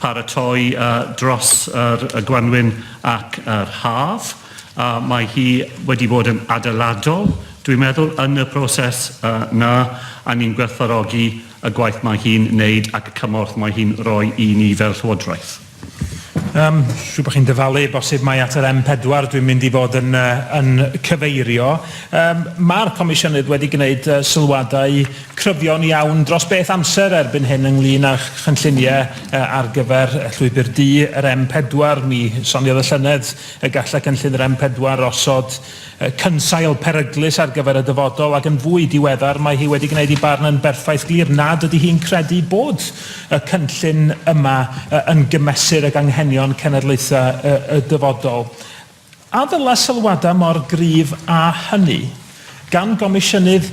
paratoi dros yr y gwanwyn ac yr haf a mae hi wedi bod yn adeiladol dwi'n meddwl yn y proses yy 'na a ni'n gwerthfawrogi y gwaith mae hi'n neud ac y cymorth mae hi'n roi i ni fel Llywodraeth. Yym, siŵr bod chi'n dyfalu, bosib mai at yr M4 dwi'n mynd i fod yn yy yn cyfeirio. Yym, ma'r Comisiynydd wedi gneud yy sylwadau cryfion iawn dros beth amser erbyn hyn ynglŷn â chynlluniau ar gyfer Llwybr Du yr M4. Mi soniodd y llynedd y gallai cynllun yr M4 osod cynsail peryglus ar gyfer y dyfodol ac yn fwy diweddar mae hi wedi gwneud ei barn yn berffaith glir nad ydy hi'n credu bod y cynllun yma yn gymesur ag anghenion cenedlaethau y dyfodol. A ddylai sylwadau mor gryf â hynny, gan Gomisiynydd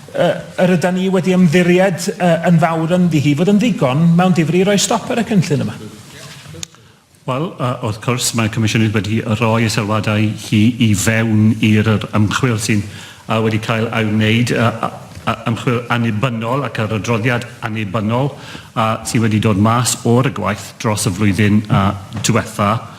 y yr ydan ni wedi ymddiried y yn fawr ynddi hi, fod yn ddigon mewn difri i roi stop ar y cynllun yma? Wel, wrth cwrs, mae Comisiynydd wedi rhoi y sylwadau hi i fewn i'r yr ymchwil sy'n wedi cael ei wneud, y y ymchwil annibynnol ac yr adroddiad annibynnol sy wedi dod mas o'r y gwaith dros y flwyddyn diwetha'.